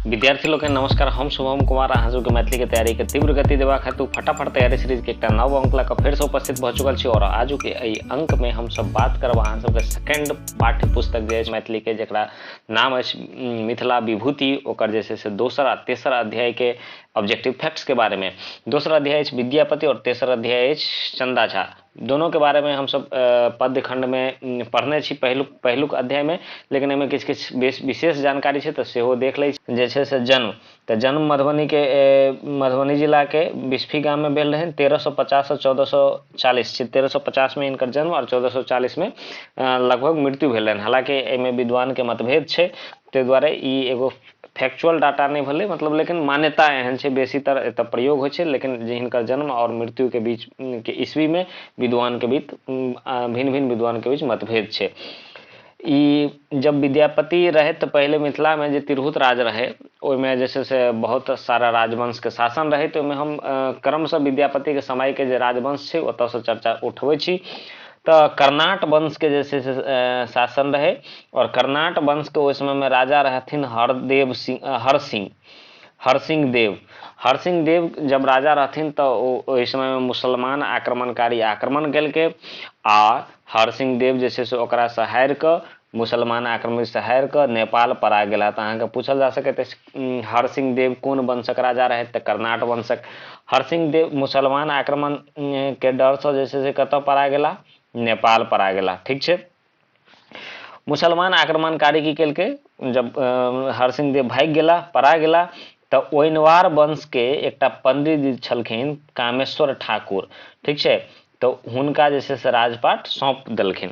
विद्यार्थी लोग के नमस्कार हम शुभम कुमार अहाँ सबके मैथिली के तैयारी के तीव्र गति देवा खातिर फटाफट तैयारी सीरीज के एकटा नव अंक लग फेर से उपस्थित भऽ चुकल छी और आज के एहि अंक में हम सब बात करब अहाँ सबके सेकंड पाठ्य पुस्तक जे अछि मैथिली के जकरा नाम अछि उम, मिथिला विभूति ओकर जे छै से दोसर आ तेसर अध्याय के ऑब्जेक्टिव फैक्ट्स के बारे में दोसर अध्याय अछि विद्यापति और तेसर अध्याय अछि चंदा झा दोनोके बारेमे हमसभ पद्य खण्डमे पढ़ने छी पहिलुक पहिलुक अध्यायमे लेकिन एहिमे किछु किछु विशेष जानकारी छै तऽ सेहो देख लै छी जे छै से जन्म तऽ जन्म मधुबनीके मधुबनी जिलाके बिस्फी गाममे भेल रहनि तेरह सए पचाससँ चौदह सए चालीस छै तेरह सए पचासमे हिनकर जन्म आओर चौदह सए चालीसमे लगभग मृत्यु भेलनि हालाँकि एहिमे विद्वानके मतभेद छै ताहि दुआरे ई एगो फैक्चुअल डाटा नहि भेलै मतलब लेकिन मान्यता एहन छै बेसीतर एतऽ प्रयोग होइ छै लेकिन जे हिनकर जन्म आओर मृत्युके बीच के ईस्वीमे विद्वानके बीच भिन्न भिन्न विद्वानके बीच मतभेद छै ई जब विद्यापति रहै तऽ पहिले मिथिलामे जे तिरहुत राज रहै ओहिमे जे छै से बहुत सारा राजवंशके शासन रहै तऽ ओहिमे हम क्रमशः विद्यापतिके समयके जे राजवंश छै ओतऽसँ चर्चा उठबै छी तऽ कर्नाट वंशके जे छै से शासन रहै आओर कर्नाट वंशके ओहि समयमे राजा रहथिन हरदेव सिंह हरसिंह हरसिंह देव हरसिंह देव जब राजा रहथिन तऽ ओ ओहि समयमे मुसलमान आक्रमणकारी आक्रमण केलकै आ हरसिंह देव जे छै से ओकरासँ हारि कऽ मुसलमान आक्रमण से हारि कऽ नेपाल परा गेला तऽ अहाँके पूछल जा सकैत अछि हरसिंह देव कोन वंशक राजा रहथि तऽ कर्नाट वंशक हरसिंह देव मुसलमान आक्रमण के डर से जे छै से कतऽ परा गेला नेपाल परा गेला ठीक छै मुसलमान आक्रमणकारी की केलकै जब हरसिंह देव भागि गेला परा गेला तऽ ओइनवार वंशके एकटा पंडित छलखिन कामेश्वर ठाकुर ठीक छै तऽ हुनका जे छै से राजपाट सौंप देलखिन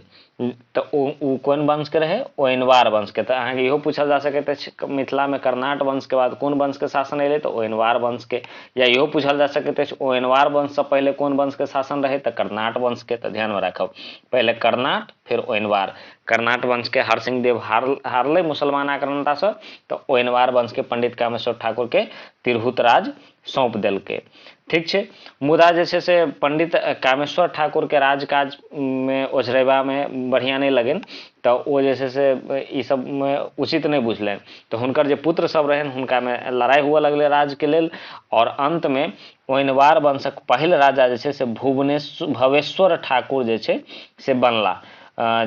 तऽ ओ ओ कोन वंशके रहै ओ अनवार वंशके तऽ अहाँके इहो पूछल जा सकैत अछि मिथिलामे कर्नाट वंशके बाद कोन वंशके शासन अयलै तऽ ओ अनवार वंशके या इहो पूछल जा सकैत अछि ओ अनवार वंशसँ पहिले कोन वंशके शासन रहै तऽ कर्नाट वंशके तऽ ध्यानमे राखब पहिले कर्नाट फेर ओ अनवार कर्नाट वंशके हरसिंह देव हार हारलै मुसलमान आक्रांतासँ तऽ ओ अनवार वंशके पंडित कामेश्वर ठाकुरके तिरहुत राज सौंप देलकै ठीक छै मुदा जे छै से पंडित कामेश्वर ठाकुरके राजकाजमे ओझरेबामे बढ़िआँ नहि लगनि तऽ ओ जे छै से ई सबमे उचित नहि बुझलनि तऽ हुनकर जे पुत्र सब रहनि हुनकामे लड़ाइ हुअ लगलै राजके लेल आओर अन्तमे ओइनवार वंशक पहिल राजा जे छै से भुवनेश्वर भवेश्वर ठाकुर जे छै से बनला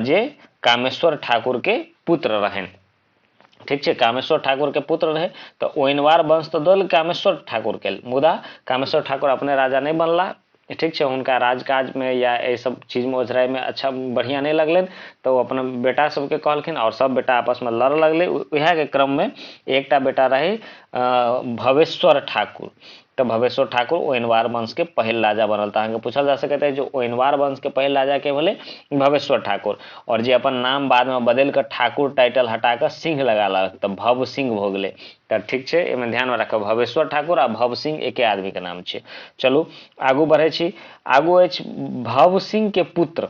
जे कामेश्वर ठाकुरके पुत्र रहनि ठीक छै कामेश्वर ठाकुरके पुत्र रहै तऽ ओइनवार वंश तऽ दल कामेश्वर ठाकुरके मुदा कामेश्वर ठाकुर अपने राजा नहि बनला ठीक छै हुनका राजकाजमे या एहि सब चीजमे ओझराइमे अच्छा बढ़िआँ नहि लगलनि तऽ ओ अपना बेटा सबके कहलखिन आओर सब बेटा आपसमे लड़ऽ लगलै उएहके क्रममे एकटा बेटा रहै भवेश्वर ठाकुर त भवेश्वर ठाकुर ओइनवार वंश के पहिल राजा बनल। त अहाँ के पूछल जा सकैत अछि जे ओइनवार वंश के पहिल राजा के भेलइ? भवेश्वर ठाकुर। और जे अपन नाम बाद में बदलि क ठाकुर टाइटल हटा क सिंह लगा लेलक त भव सिंह भ गेलइ। त ठीक छै, अइ में ध्यान में राखब भवेश्वर ठाकुर आ भव सिंह एके आदमी के नाम छियै। चलू आगू बढ़ै छी। आगू अछि भव सिंह के पुत्र।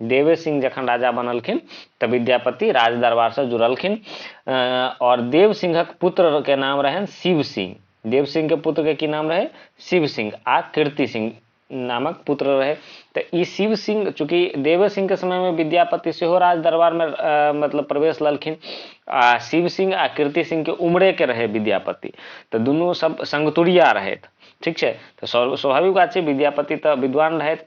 देवे सिंह जखन राजा बनलखिन तऽ विद्यापति राज दरबार से जुड़लखिन अ, और देव सिंहक पुत्र के नाम रहन शिव सिंह देव सिंह के पुत्र के की नाम रहे शिव सिंह आ कीर्ति सिंह नामक पुत्र रहे तऽ ई शिव सिंह चूंकि देवे सिंह के समय में विद्यापति सेहो राज दरबार में अ, मतलब प्रवेश ललखिन आ शिव सिंह आ कीर्ति सिंह के उम्रे के रहे विद्यापति तऽ दुनू सब संगतुरिया रहथि ठीक छै तऽ स्व- स्वाभाविक बात छै विद्यापति तऽ विद्वान रहथि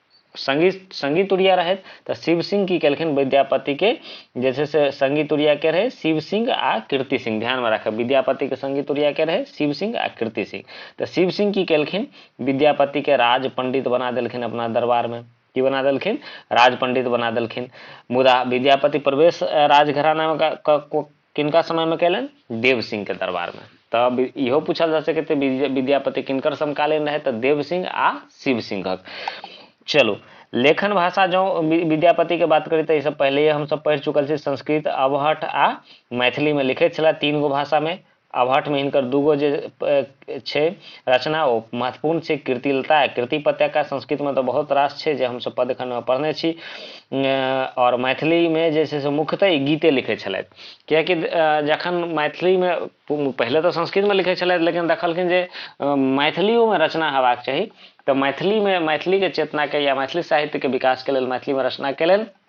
संगी संगी तुरिया रहथि तऽ शिव सिंह की केलखिन विद्यापति के जे छै से संगी तुरिया के रहे शिव सिंह आ कीर्ति सिंह ध्यान में राखब विद्यापति के संगी तुरिया के रहे शिव सिंह आ कीर्ति सिंह तऽ शिव सिंह की केलखिन विद्यापति के राज पंडित बना देलखिन अपना दरबार में की बना देलखिन राज पंडित बना देलखिन मुदा विद्यापति प्रवेश राजघराना में किनका समय में कैलनि देव सिंह के दरबार में तब इहो पूछल जा सके थे विद्यापति किनकर समकालीन रहे तो देव सिंह आ शिव सिंहक चलू लेखन भाषा जो विद्यापति के बात करी तो सब पहले हम सब पढ़ चुकल छी संस्कृत अवहट आ मैथिली में लिखे छला तीन गो भाषा में अवहट में इनकर दूगो जे छै रचना ओ महत्वपूर्ण छै कृतिलता कृति पत्यका संस्कृतमे तऽ बहुत रास छै जे हमसभ पद एखन पढ़ने छी आओर मैथिलीमे जे छै से मुख्यतः ई गीते लिखै छलथि किएकि जखन मैथिलीमे पहिले तऽ संस्कृतमे लिखै छलथि लेकिन देखलखिन जे मैथिलियोमे रचना हेबाक चाही तऽ मैथिलीमे मैथिलीके चेतनाके या मैथिली साहित्यके विकासके लेल मैथिलीमे रचना केलनि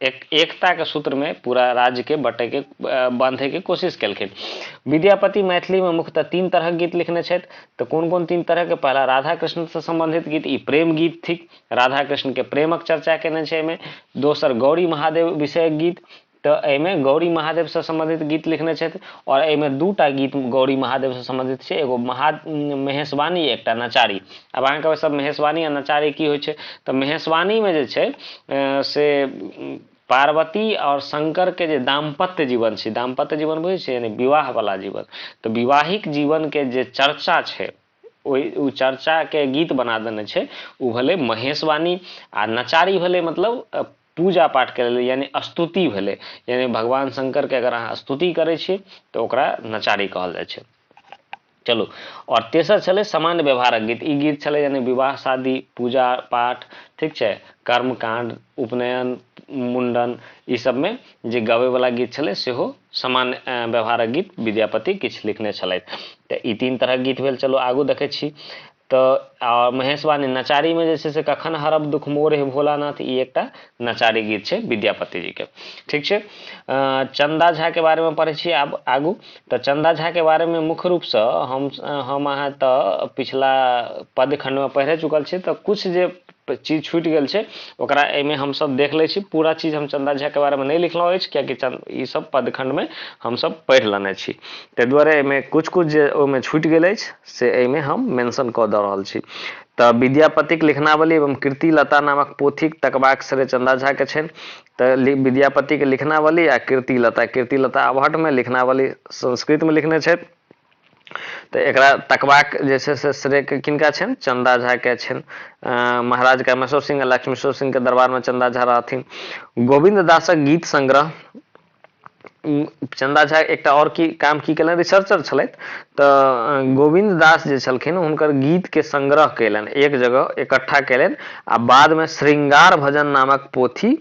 एक, एकता के सूत्र में पूरा राज्य के बटे के बांधे के कोशिश केलखिन विद्यापति मैथिली में मुख्यतः तीन तरह के गीत लिखने छथि तो कोन कोन तीन तरह के पहला राधा कृष्ण से संबंधित गीत ई प्रेम गीत थिक राधा कृष्ण के प्रेमक चर्चा केने छै एहिमे दोसर गौरी महादेव विषयक गीत तो एहिमे गौरी महादेव से संबंधित गीत लिखने छथि और एहिमे दूटा गीत गौरी महादेव से संबंधित छै एगो महा महेशवाणी एक नचारी आब अहाँके कहबै सब महेशवाणी आ नचारी की होइ छै तऽ महेशवाणीमे जे छै से पार्वती आओर शंकरके जे दाम्पत्य जीवन छै दाम्पत्य जीवन बुझै छै यानी विवाहवला जीवन तऽ विवाहिक जीवनके जे चर्चा छै ओहि ओ चर्चाके गीत बना देने छै ओ भेलै महेशवाणी आ नचारी भेलै मतलब पूजा पाठ करै लए यानी स्तुति भेलै यानी भगवान शंकरके अगर अहाँ स्तुति करै छी तऽ ओकरा नचारी कहल जाइ छै चलू आओर तेसर छलै सामान्य व्यवहारक गीत ई गीत छलै यानी विवाह शादी पूजा पाठ ठीक छै कर्मकांड उपनयन मुंडन ई सबमे जे गबैवला गीत छलै सेहो सामान्य व्यवहारक गीत विद्यापति किछु लिखने छलथि तऽ ई तीन तरहक गीत भेल चलू आगू देखै छी तऽ आ महेशवाणी नचारीमे जे छै से कखन हरब दुख मोर हे भोलानाथ ई एकटा नचारी गीत छै विद्यापति जीके ठीक छै चन्दा झाके बारेमे पढ़ै छी आब आगू तऽ चन्दा झाके बारेमे मुख्य रूपसँ हम हम अहाँ तऽ पिछला पदखण्डमे पढ़े चुकल छी तऽ किछु जे चीज छूटि गेल छै ओकरा एहिमे हमसभ देख लै छी पूरा चीज हम चन्दा झाके बारेमे नहि लिखलहुँ अछि किएकि चन्द ईसब पदखण्डमे हमसभ पढ़ि लेने छी ताहि दुआरे एहिमे किछु किछु जे ओहिमे छूटि गेल अछि से एहिमे हम मेंशन कऽ दऽ रहल छी तऽ विद्यापतिक लिखनावली एवं कृति लता नामक पोथीक तकबाक श्रेय चन्दा झाके छनि तऽ विद्यापतिके लिखनावली आ कृति लता कृति लता अवहटमे लिखनावली संस्कृतमे लिखने छथि तऽ एकरा तकबाक जे छै से श्रेय किनका छनि चन्दा झाके छनि महाराज कामेश्वर सिंह आ लक्ष्मेश्वर सिंहके दरबारमे चन्दा झा रहथिन गोविन्द दासक गीत संग्रह चन्दा झा एकटा आओर की काम की केलनि रिसर्चर छलथि तऽ गोविन्द दास जे छलखिन हुनकर गीतके संग्रह कयलनि एक जगह इकट्ठा कयलनि आ बादमे श्रृंगार भजन नामक पोथी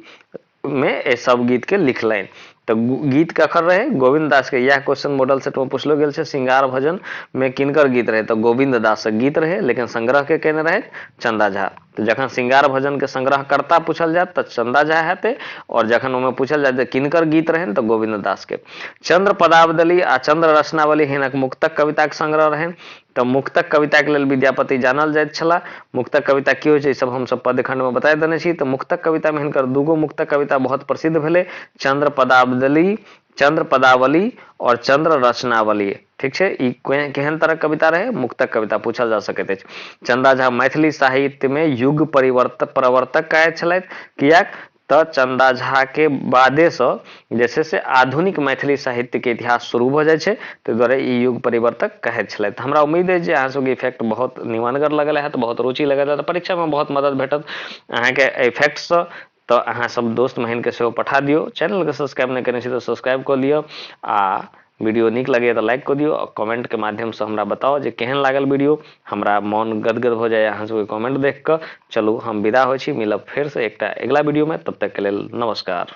मे एहि सब गीत के लिखलनि तऽ गीत ककर रहे गोविंद दास के यह क्वेश्चन मॉडल सेट में पूछलो गेल छै श्रृंगार भजन में किनकर गीत रहे तऽ गोविंद दास गीत रहे लेकिन संग्रह के केने रहे चंदा झा तऽ जखन श्रृंगार भजन के संग्रहकर्ता पूछल जायत तऽ चंदा झा हेते और जखन ओहिमे पूछल जायत जे किनकर गीत रहनि तऽ गोविंद दास के चंद्र पदावली आ चंद्र रचनावली हिनक मुक्तक कविताक संग्रह रहनि तँ मुक्तक कविताक लेल विद्यापति जानल जाइत छलाह। मुक्तक कविता की होइत छै, ई सभ हम सभ पद्यखण्डमे बताए देने छी। तँ मुक्तक कवितामे हिनकर दू गो मुक्तक कविता बहुत प्रसिद्ध भेलै, चन्द्रपदाब्दली, चन्द्रपदावली, और चन्द्ररचनावली। ठीक छै, ई केहन तरहक कविता रहै? मुक्तक कविता पूछल जा सकैत अछि। चन्दा झा मैथिली साहित्यमे युग-प्रवर्तक कहाइत छलथि। किएक? तँ चन्दा झाकेँ बादेसँ जे छै से आधुनिक मैथिली साहित्यकेँ इतिहास शुरू भऽ जाइ छै। तै दुआरे ई युग परिवर्तक कहैत छलथि। हमरा उम्मीद अछि जे अहाँ सभकेँ ई फैक्ट बहुत निमानगर लगल हएत, बहुत रुचि लगल हएत आ परीक्षामे बहुत मदद भेटत अहाँकेँ एहि फैक्टसँ। तँ अहाँ सभ दोस्त-महिनकेँ सेहो पठा दियौ। चैनलकेँ सब्सक्राइब नहि कयने छी तँ सब्सक्राइब कऽ लिअ आ। वीडियो निक लगे तो लाइक कर दियो और कमेंट के माध्यम से हमरा बताओ जे केहन लागल वीडियो हमरा मन गदगद हो जाए अहाँ सबके कमेंट देख कर चलू हम विदा हो मिलब फिर से एक अगला वीडियो में तब तक के लिए नमस्कार